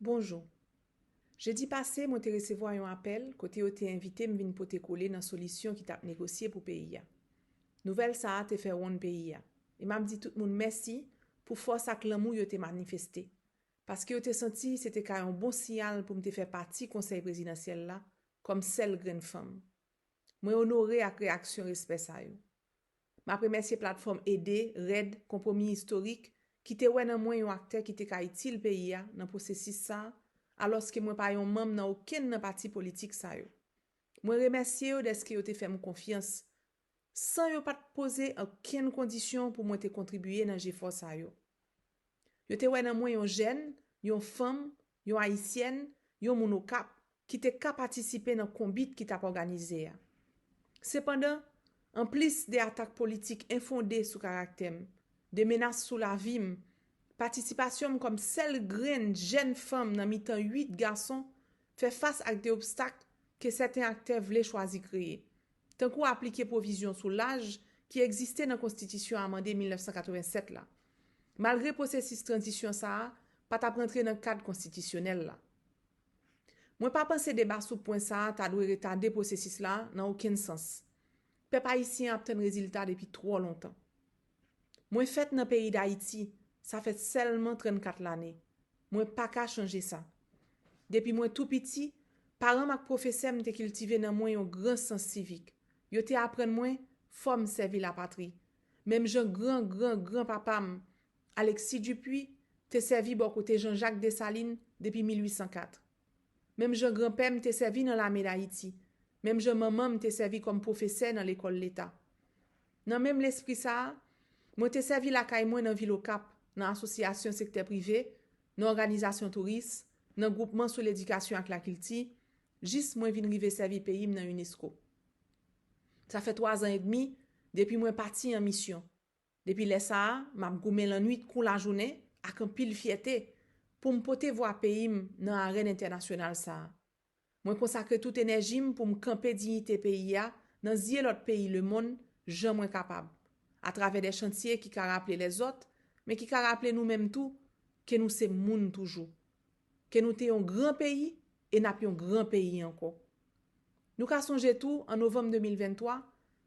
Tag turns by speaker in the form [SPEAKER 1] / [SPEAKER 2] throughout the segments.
[SPEAKER 1] Bonjou. Jedi pase mwen te resevwa yon apèl kote yo te envite m vin pote kole nan solisyon ki t ap negosye pou peyi a. Nouvèl sa a te fè wonn peyi a e m ap di tout moun mèsi pou fòs ak lanmou yo te manifeste paske yo te santi se te ka yon bon siyal pou m te fè pati Konsèy Prezidansyèl la kòm sèl grenn fanm. Mwen onore ak reyaksyon respè sa yo. M ap remèsye Platfòm Ede, red, Konpwomi Istorik, ki te wè nan mwen yon aktè ki te ka itil peyi a nan pwosesis sa a, alòske mwen pa yon manm nan okenn nan pati politik sa yo. Mwen remèsye yo dèske yo te fè m konfyans, san yo pa t poze okenn kondisyon pou mwen te kontribiye nan jefò sa yo. Yo te wè nan mwen yon jèn, yon fanm, Yon Ayisyèn, yon moun Okap, ki te ka patisipe nan konbit ki t ap òganize a. Sepandan, anplis de atak politik enfonde sou karaktè m, de menas sou lavi m, patisipasyon m kòm sèl grenn jèn fanm nan mitan uit gason fè fas ak de obstak ke sèten aktè vle chwazi kreye. tankou aplike pwovizyon sou laj ki egziste nan konstitisyon amande 1987 la, malgre pwosesis tranzisyon sa a pa t ap rantre nan kad konstitisyonèl la. Mwen pa panse deba sou pwen sa a ta dwe retade pwosesis la nan okenn sans. Pèp ayisyen ap tann rezilta depi twò lontan. Mwen fèt nan peyi Dayiti, sa fè sèlman 34 lane. Mwen pa ka chanje sa. Depi mwen tou piti, paran m ak pwofesè m te kiltive nan mwen yon gran sans sivik. Yo te aprann mwen fò m sèvi lapatri, menm jan gran gran gran papa m, Alexis Dupuy, te sèvi bò kote Jean-Jacques Dessalines depi 1804. Menm jan granpè m te sèvi nan lame Dayiti, menm jan manman m te sèvi kòm pwofesè nan lekòl leta. Nan menm lespri sa a, mwen te sèvi lakay mwen nan vil Okap, nan asosyasyon sektè prive, nan òganizasyon touris, nan gwoupman sou ledikasyon ak lakilti, jis mwen vin rive sèvi peyi m nan unesco. Sa fè twazan edmi depi mwen pati an misyon. Depi lè sa a, m ap goumen lannwit kou lajounen ak anpil fyète pou m pote vwa peyi m nan arèn entènasyonal sa a. Mwen konsakre tout enèji m pou m kanpe diyite peyi a nan zye lòt peyi lemonn jan mwen kapab, atravè de chantye ki ka raple lèzòt, men ki ka raple nou menm tou ke nou se moun toujou. ke nou te yon gran peyi e n ap yon gran peyi ankò. Nou ka sonje tou, an novanm 2023,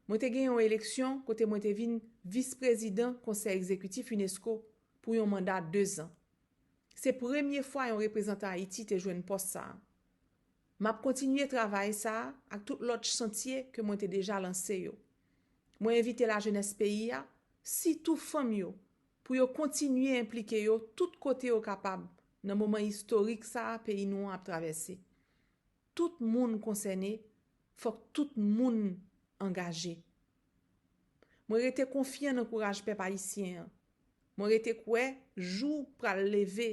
[SPEAKER 1] mwen te gen yon eleksyon kote mwen te vin Vis Prezidan Konsèy Egzekitif unesco pou yon manda dezan. Se premye fwa yon reprezantan Ayiti te jwenn pòs sa a. M ap kontinye travay sa a ak tout lòt chantye ke mwen te deja lanse yo. Mwen envite lajenès peyi a, sitou fanm yo, pou yo kontinye enplike yo tout kote yo kapab nan moman istorik sa a peyi nou an ap travèse. Tout moun konsène, fòk tout moun angaje. Mwen rete konfyan nan kouraj pèp ayisyen an. Mwen rete kwè jou pral leve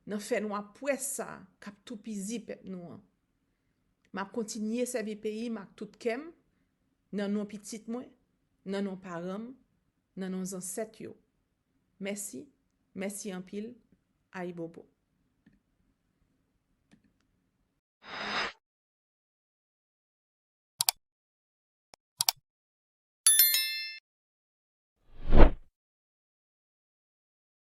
[SPEAKER 1] nan fènwa pwès sa a k ap toupizi pèp nou an. M ap kontinye sèvi peyi m ak tout kè m, nan non pitit mwen, nan non paran m, Nan non zansèt yo. Mèsi mèsi anpil ayibobo.